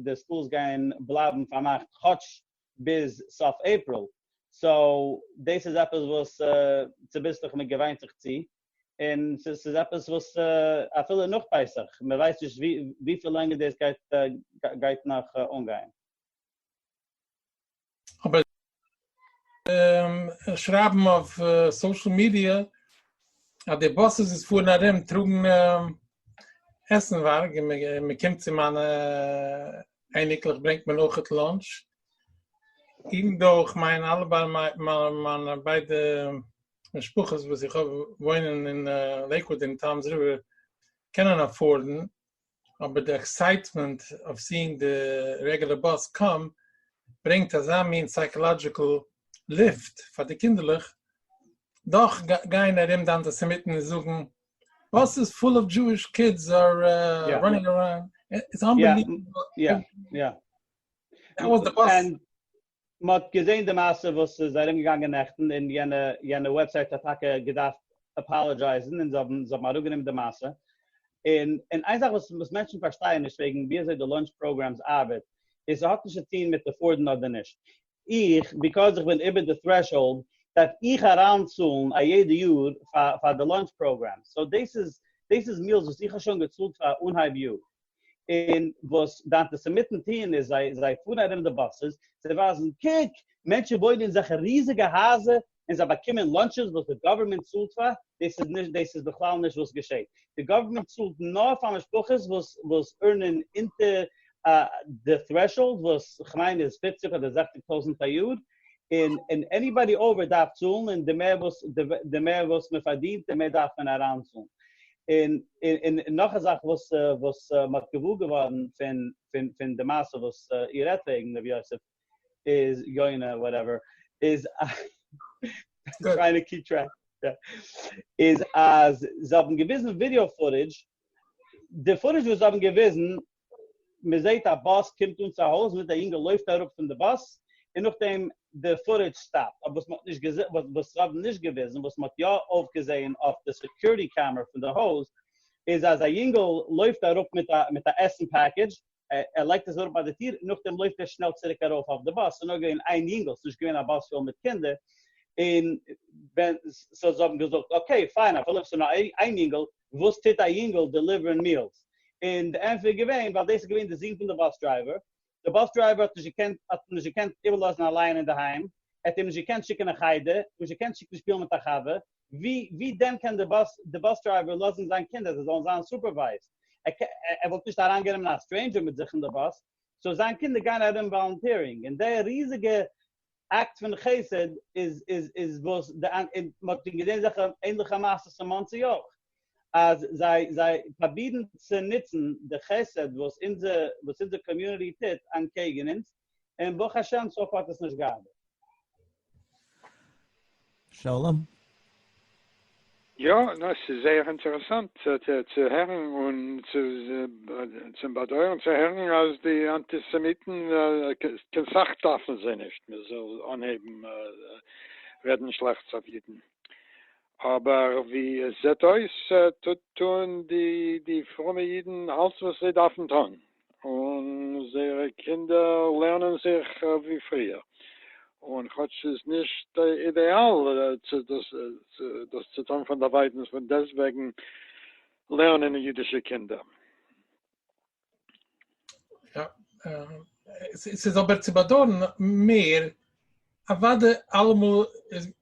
די סקולס גייען בלייבן פארמאכט כאטש ביז סוף אפריל, סאו דאס איז עפעס וואס צוביסלעך מ'געוויינט זיך צו, און ס'איז עפעס וואס אפילו נאך פסח, מ'ווייסט נישט וויפיל לענגער דאס גייט גייט נאך אנגיין. אבער שרייבן אויף סאשעל מידיע אז די באסעס וואס פארן ארום טראגן עסנווארג, מען קומט צו מיינע אייניקלעך ברענגט מען אויך לאנטש, איבן דא איך מיין אלע מיינע ביידע משפחות וואס איך האב וואוינען אין לעיקוואד און טאמס ריווער קענען אפארדן אבער די עקסייטמענט אויף סיענג די רעגולער באס קאם ברענגט אזא מין סייקאלאדזשיקל ליפט פאר די קינדערלעך, דאך גייען ארום די אנטיסעמיטן און זאגן באסעס פול אוו דזשואיש קידס אר ראנינג אראונד, איטס אנבעליוועבל. מען האט געזען די מעשה וואס איז ארום געגאנגען נעכטן און יענע יענע וועבסייט האט טאקע געדארפט אפאלאדזשייזן און זיי האבן זיי האבן אראפ גענומען די מעשה און און איין זאך וואס וואס מענטשן פארשטייען נישט וועגן ווי אזוי די לאנטש פראגרעמס ארבעט איז ס'האט נישט צו טוהן מיט עפארדן אדער נישט איך ביקאוז איך בין איבער די טרעשהאלד דארף איך אריין צאלן א יעדע יאר פאר פאר די לאנטש פראגרעמס סאו דאס איז דאס איז מיעלס וואס איך האב שוין געצאלט פאר אנהייב יאר און וואס די אנטיסעמיטן טוען איז זיי זיי פארן ארום די באסעס, זיי ווייזן קוק, מענטשן וואוינען אין זעלכע ריזיגע הייזער און זיי באקומען לאנטשעס וואס די גאווערמענט צאלט פאר, דאס איז נישט דאס איז בכלל נישט וואס געשעט, די גאווערמענט צאלט נאר פאר משפחות וואס וואס ערנען אונטער די threshold וואס כ'מיין איז פֿופֿציק אדער זעכציק טויזענט א יאר, און און עניבאדי אויבער דארף צאלן און די מער וואס די מער וואס מען פארדינט די מער דארף מען אריינצאלן. און און נאך א זאך וואס וואס מען האט געוואר געווארן פון פון פון די מעשה וואס איר רעדט וועגן ר' יוסף איז יונה וואטעווער איז טרייען טו קיעפ טרעק איז אז זיי האבן געוויזן ווידיאו פוטעדזש די פוטעדזש וואס זיי האבן געוויזן מען זעהט א באס קומט אן צו א הויז מיט א יונגעל לויפט אראפ פון די באס און נאכדעם די פוטעדזש סטאפט אבער וואס מען האט נישט געזעהן וואס זיי האבן נישט געוויזן וואס מען האט יא אויפגעזעהן אויף די סעקיוריטי קעמערע פון די הויז איז אז א יונגעל לויפט אראפ מיט א מיט א עסן פעקעדזש ער לייגט עס אראפ ביי די טיר און נאכדעם לויפט ער שנעל צוריק ארויף אויף די באס ס'איז נאר געווען איין יונגעל ס'איז נישט געווען א באס פול מיט קינדער און ווען סאו זיי האבן געזאגט אקעי פיין אפילו עס איז נאר איין יונגעל וואס טוט א יונגעל דעליווערן מילס? און די ענטפער איז געווען ווייל דאס איז געווען די זון פון די באס דרייווער, די באס דרייווער האט נישט געקענט האט אים נישט געקענט איבערלאזן אליין אינדערהיים, ער האט אים נישט געקענט שיקן אין חדר, נישט געקענט שיקן שפילן מיט א חבר, ווי ווי דען קען די באס די באס דרייווער לאזן זיין קינדער זיי זאלן זיין סופערווייזד? ער קען ער וואלט נישט אריינגענומען א סטרעינדזשער מיט זיך אין די באס, סאו זיין קינדער גייען ארום וואלונטירינג און די ריזיגע אקט פון חסד איז איז איז וואס די און מ'האט שוין געזען אזעלכע ענדליכע מעשות אין מאנסי אויך אז זיי זיי פראבירן צו נוצן די חסד וואס אונזער וואס אונזער קאמיוניטי טוט אנטקעגן אונז און ברוך השם סאו פאר האט עס נישט געארבעט. שלום. יא, נא, ס'איז זייער אינטערעסאנט צו הערן, און צום באדויערן צו הערן אז די אנטיסעמיטן, קיין סאך דארפן זיי נישט מען זאל אנהייבן רעדן שלעכטס אויף אידן, אבער ווי עס זעט אויס טוהן די פרומע אידן אלס וואס זיי דארפן טון. און זייערע קינדער לערנען זיך ווי פריער, און כאטש ס'איז נישט אידעאל דאס צו טון פונדערווייטנס, פון דעסטוועגן לערנען אידישע קינדער. יא, ס'איז אבער צו באדויערן מער, אוודאי אלעמאל איז,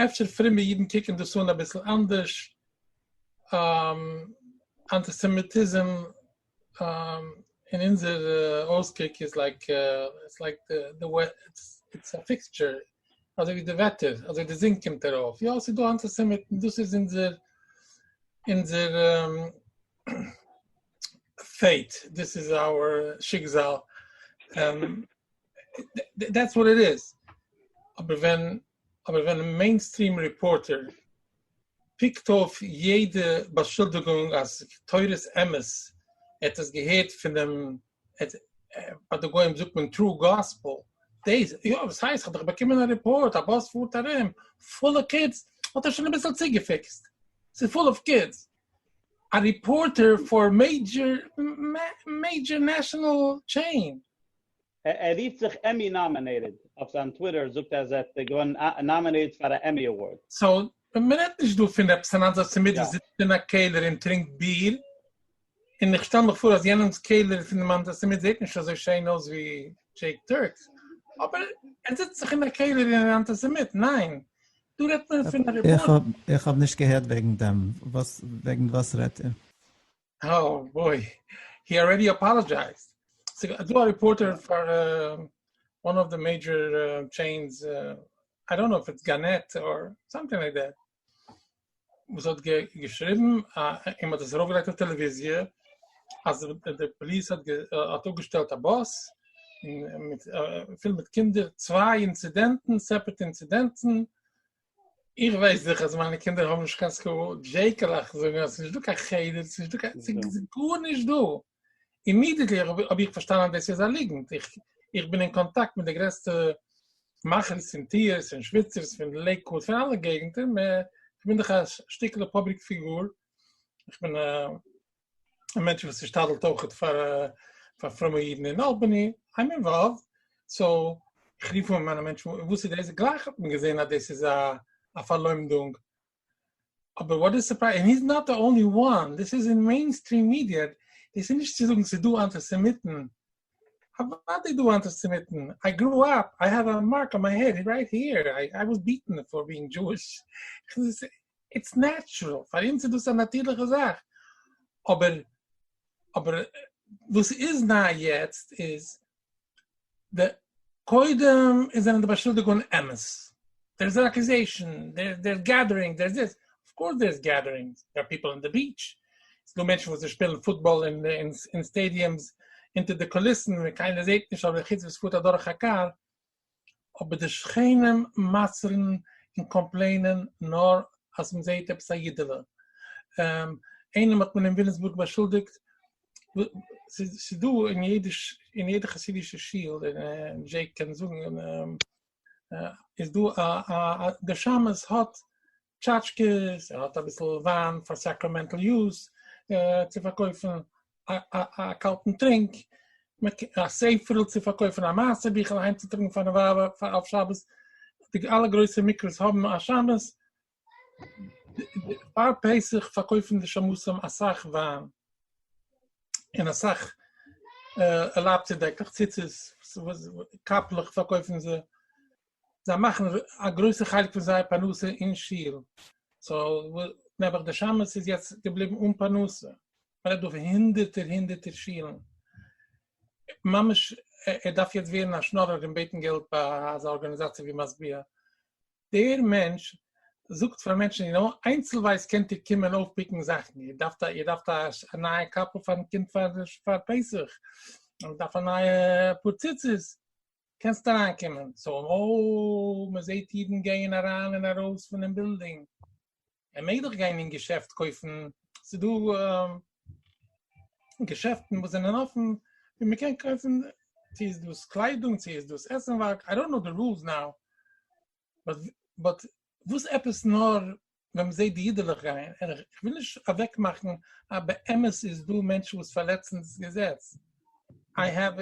אפשר פרומע אידן קוקן דאס אן אביסל אנדערש, אנטיסעמיטיזם אין אונזער אויסקוק איז לייק איטס לייק די וועט איטס א פיקטשער אזוי ווי די וועטער אזוי די זון קומט ארויף יא ס'איז דא אנטיסעמיטן דאס איז אונזער אונזער פעיט דיס איז אווער שיקזאל דעטס וואט איט איז אבער ווען אבער ווען א מעינסטריעם ריפארטער פיקט אויף יעדע באשולדיגונג אז תורת אמת ער האט עס געהערט פונעם ביי די גוים זאגט מען טרו גאספעל דעיס יא וואס הייסט כ'האב דאך באקומען א ריפארט א באס פארט ארום פולע קידס האט ער שוין אביסל צוגעפיקסט ס'איז פול אויף קידס א ריפארטער פאר מעידזשער מעידזשער נעשאנעל טשעין. ער רופט זיך עמי נאמינעיטעד, אויף זיין טוויטער זאגט ער אז ער האט געוואונען נאמינעיטעד פאר א עמי אווארד. סאו מען רעדט נישט דא פון עפעס אן אנדערע צומיד וואס זיצט אין א קעלער און טרינקט ביר, און איך שטעל מיך פאר אז יענעמס קעלער פונעם אנטיסעמיט זעט נישט אזוי שיין אויס ווי דזשעיק טורקס, אבער ער זיצט דאך אין א קעלער און איז אנטיסעמיט, ניין? דא רעדט מען פון א ריפארטער. איך האב נישט געהערט וועגן דעם, וואס וועגן וואס רעדט איר? אוי בוי, הי אלרעדי אפאלאזשייזד. ס'דא א ריפארטער פאר וואן אוו די מעידזשער טשעינס, איי דאנט נאו איף איטס גאנעט אר סאמטינג לייק דעט, וואס האט געשריבן, און מ'האט עס ארויפגעלייגט אויף טעלעוויזיע, אז די פאליס האט אפגעשטעלט א באס, פול מיט קינדער, צוויי אינצידענטן, סעפערעט אינצידענטן, איך ווייס דאך אז מיינע קינדער האבן נישט קיין סקול, דזשעיקעלעך זאגן אז ס'נישט דא קיין חדר, ס'נישט דא קיין, ס'איז גארנישט דא. אימידעטלי האב איך פארשטאנען אז דאס איז א ליגנט, איך איך בין אין קאנטאקט מיט די גרעסטע מאכערס און טיערס און שוויצערס פון לעיקוואוד פון אלע געגנטער, איך בין דאך א שטיקעלע פובליק פיגור, איך בין א א מענטש וואס איז שתדל'ט אויכעט פאר פאר פרומע אידן אין אלבעני, איים אינוואלווד, סאו איך רוף אן מיינע מענטשן וואס איז דאס, גלייך האט מען געזען אז דאס איז א פארלוימדונג, אבער וואט איז סורפרייז, און היז נאט די אנלי וואן, דאס איז אין מעינסטריעם מידיע, דאס איז נישט צו זאגן ס'איז דא אנטיסעמיטן אוואדי דו אנטיסעמיטן, איי גרו אפ, איי העוו א מארק אן מיי העד רייט היער, איי וואס ביעטן פאר ביענג דזשואיש, איטס נעטשרעל, פאר אונז איז דאס א נאטירליכע זאך, אבער אבער וואס איז ניי יעצט איז, די קודם איז זענען די באשולדיגונן אמת. דער איז אן אקוזעישאן, דער געדערינג, דער איז דאס, אויף קאורס דער איז געדערינגס, דער איז פיפל אן די ביעטש, עס איז דא מענטשן וואס זיי שפילן פוטבאל אין סטעדיומס אונטער די קוליסן ווען קיינער זעט נישט אדער חוץ ווען עס פארט אדורך א קאר, אבער די שכנים מוסר'ן און קאמפלעינען נאר אז מען זעט עפעס א אידעלע, איינעם האט מען אין וויליאמסבורג באשולדיגט, ס'איז דא אין יעדע חסידישע שול, און דזשעיק קען זאגן. איז דא א א א די שמש האט טשאטשקעס ער האט אביסל וויין פאר סאקראמענטל יוז צו פארקויפן א א קאלטן טרינק א ספר'ל צו פארקויפן א מעשה ביכל אהיימצוטראגן פארן ווייב אויף שבת די אלע גרויסע מקווה'ס האבן א שמש פאר פסח פארקויפן די שמשים אסאך וויין און אסאך ערלאבט צו דעקלעך, ציצית, קאפלעך פארקויפן זיי, זיי מאכן א גרויסע חלק פון זייער פרנסה אין שול, סאו נעבעך די שמש איז יעצט געבליבן אן פרנסה, מען רעדט דא פון הונדערטער הונדערטער שולן, ממש ער דארף יעצט ווערן א שנארער און בעטן געלט ביי אזא ארגאניזאציע ווי משביע, דער מענטש זאגט פאר מענטשן, יו נאו, איינצלווייז קענט איר קומען אויפפיקן זאכן, איר דארפט איר דארפט א נייע קאפל פארן קינד פאר פסח, איר דארפט א נייע פאר ציצית, קענסט אריינקומען, סאו, אוי, מען זעט אידן גייען אריין און ארויס פונעם בילדינג. ער מעג דאך גיין אין געשעפט קויפן, ס'דא געשעפטן וואס זענען אפן ווי מען קען קויפן, צו איז דאס קליידונג צו איז דאס עסנווארג, איי דאנט נאו די רולס נאו, באט וואס עפעס נאר ווען מען זעט די אידעלעך גייען, און איך וויל נישט אוועק מאכן אז באמת איז דא מענטשן וואס פארלעצן דאס געזעץ, איי העוו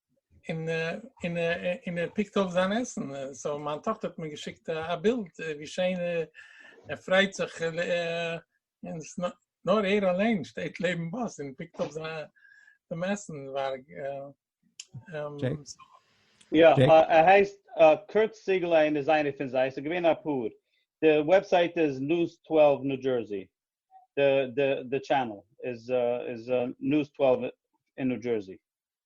אין אין אין ער פיקט אויף זיין עסן סאו מיין טאכטער האט מיר געשיקט א בילד ווי שיין ער פריידט זיך נאר ער אליין שטייט לעבן באס און פיקט אויף זיין דעם עסן ווארג יא ער הייסט קורט סיגל איינער איז איינער פון זיי ס'איז געווען אפאר די וועבסייט איז news twelve new jersey די די די טשענעל איז איז news twelve אין ניו דזשערסי.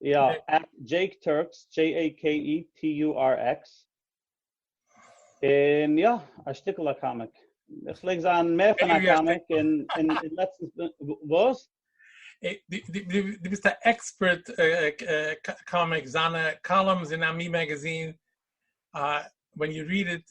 יא, עט דזשעיק טורקס, דזשעי עי קעי אי טי יו אר עקס, און יא, א שטיקל א קאמיק, איך פלעג זיין מער פון א קאמיק און לעצטנס בין, וואס? דו ביסט א עקספערט קאמיק, זיינע קאלומס אין עמי מעגעזין, ווען יו ריעד איט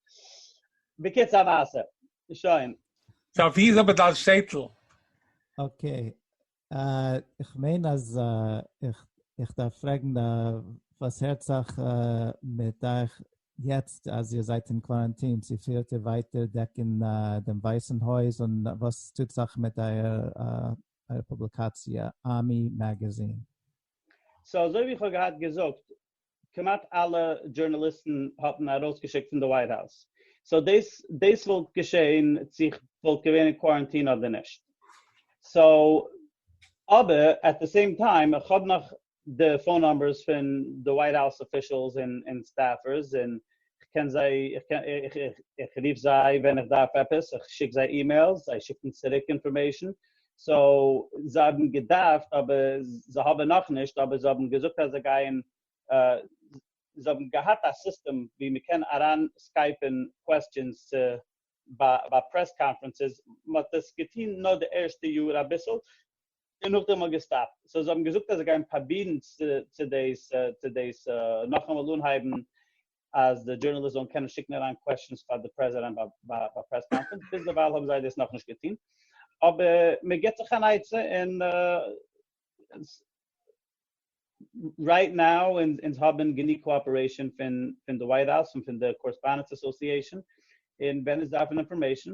בקיצור א מעשה. שוין. סא ווי איז אבער דיין שטעטל? אקעי, איך מיין אז איך איך דארף פרעגן וואס הערט זיך מיט אייך יעצט אז איר זייט אין קוואראנטין, צו פירט איר ווייטער דעקן דעם ווייסן הויז און וואס טוט זיך מיט אייער פובליקאציע Ami Magazine? סא אזוי ווי איך האב געהאט געזאגט כמעט אלע דזשורנאליסטן האבן ארויסגעשיקט פון די ווייט האוז, סאו דאס דאס וואלט געשעהן צו איך וואלט געווען אין קוואראנטין אדער נישט, סאו אבער עט די סעים טיים איך האב נאך די פאון נומבערס פון די ווייט האוז אפישעלס און סטעפערס און איך קען זיי, איך רוף זיי ווען איך דארף עפעס, איך שיק זיי אימעילס, זיי שיקן צוריק אינפארמעישן, סאו זיי האבן געדארפט אבער זיי האבן נאכנישט, אבער זיי האבן געזאגט אז זיי גייען, זיי האבן געהאט א סיסטעם ווי מען קען אריין סקייפען קוועסטשענס צו ביי פרעס קאנפרענסעס, מען האט עס געטון נאר די ערשטע יאר אביסל, און נאכדעם האט געסטאפט, סאו זיי האבן געזאגט אז זיי גייען פראבירן צו דאס צו דאס נאכאמאל אנהייבן אז די דזשורנאליסט זאלן קענען שיקן אריין קוועשאנס פאר די פרעזידענט ביי ביי פרעס קאנפרענץ, ביזדערווייל האבן זיי דאס נאכנישט געטון, אבער מען גיבט זיך אן עצה און רייט נאו אונז האבן גענוג קאאפערעישאן פון פון די ווייט האוז און פון די קארעספאנדענטס אסאסיעישאן, און ווען אונז דארפן אינפארמעישאן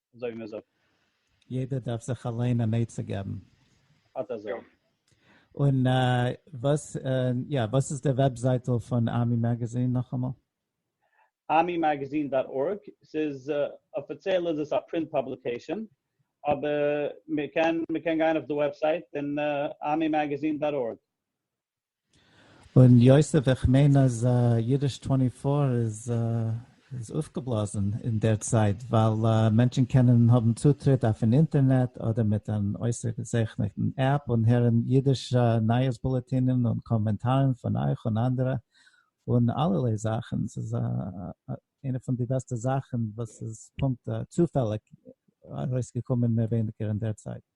אזוי ווי מען זאגט. יעדער דארף זיך אליין אן עצה געבן. אט אזוי. און וואס יא וואס איז די וועבזייטל פון ארמי מעגעזין נאכאמאל? armymagazine דאט ארג, ס'איז אפיציעל איז עס א פרינט פאבליקעישאן, אבער מ'קען מ'קען גיין אויף די וועבסייט און armymagazine דאט ארג. און יוסף איך מיין אז אידיש טווענטי פאר איז איז אויפגעבלאזן אין דער צייט ווייל מענטשן קענען האבן צוטריט אויפן אינטערנעט אדער מיט אן אויסערגעזעכנעטן עפפ און הערן אידיש נייעס בולעטינען און קאמענטארן פון אייך און אנדערע און אלערליי זאכן. ס'איז איינע פון די בעסטע זאכן וואס איז פונקט צופעליג ארויסגעקומען מער ווייניגער אין דער צייט.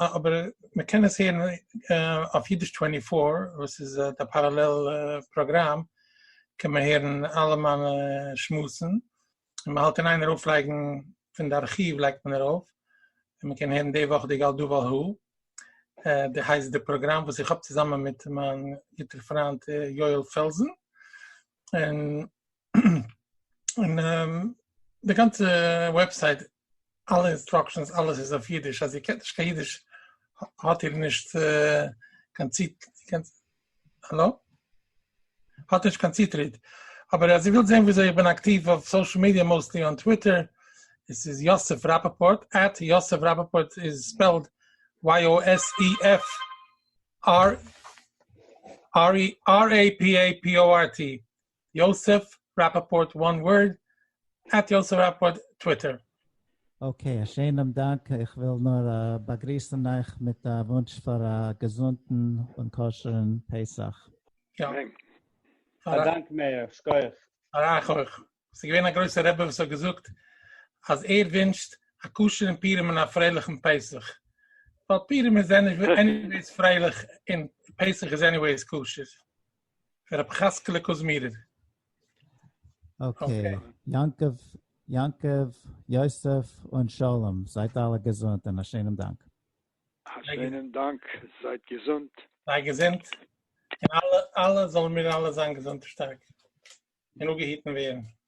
אבער מען קען עס הערן אויף אידיש טווענטי פאר וואס איז די פאראלעל פראגראם קען מען הערן אלע מיינע שמועסן און מען האלט אין איין ארויף לייגן פון די ארכיוו לייגט מען ארויף און מען קען הערן די וואך די גאל דא ועל הא די הייסט די פראגראם וואס איך האב צוזאמען מיט מיין גוטער פריינט יואל פעלזן. און די גאנצע וועבסייט אלע אינסטראקשענס אלעס איז אויף אידיש אז איר קענט נישט קיין אידיש האט איר נישט קיין האלא? האט נישט קיין צוטריט, אבער אז איר ווילט זען וויאזוי איך בין אקטיוו אויף סאושעל מידיע מאוסטלי אן טוויטער, עס איז יוסף ראפאפארט, עט יוסף ראפאפארט איז ספעלד YOSEF. אר ארי אר עי פי עי פי או אר טי יוסף רפפורט וואן ווארד עט יוסף רפפורט טוויטער. אקעי, א שענעם דאנק, איך וויל נאר באגריסען אייך מיט א וואונטש פאר א געזונטען און כשר'ן פסח. יא. אדאנק מאיר, שכוח. פאר אייך אויך. ס'איז געווען א גרויסער רבי וואס האט געזאגט אז ער ווינטשט א כשר'ן פורים און א פרייליכן פסח, ווייל פורים איז עניוועיס פרייליך און פסח איז עניוועיס כשר. רבי חזקאלע קוזמירער. אקעי, יעקב, יעקב, יוסף און שלום, זייט אלע געזונט און א שענעם דאנק. א שיינעם דאנק, זייט געזונט. זיי געזונט, און אלע אלע זאלן מיר אלע זיין געזונט און שטארק, און אפגעהיטן ווערן.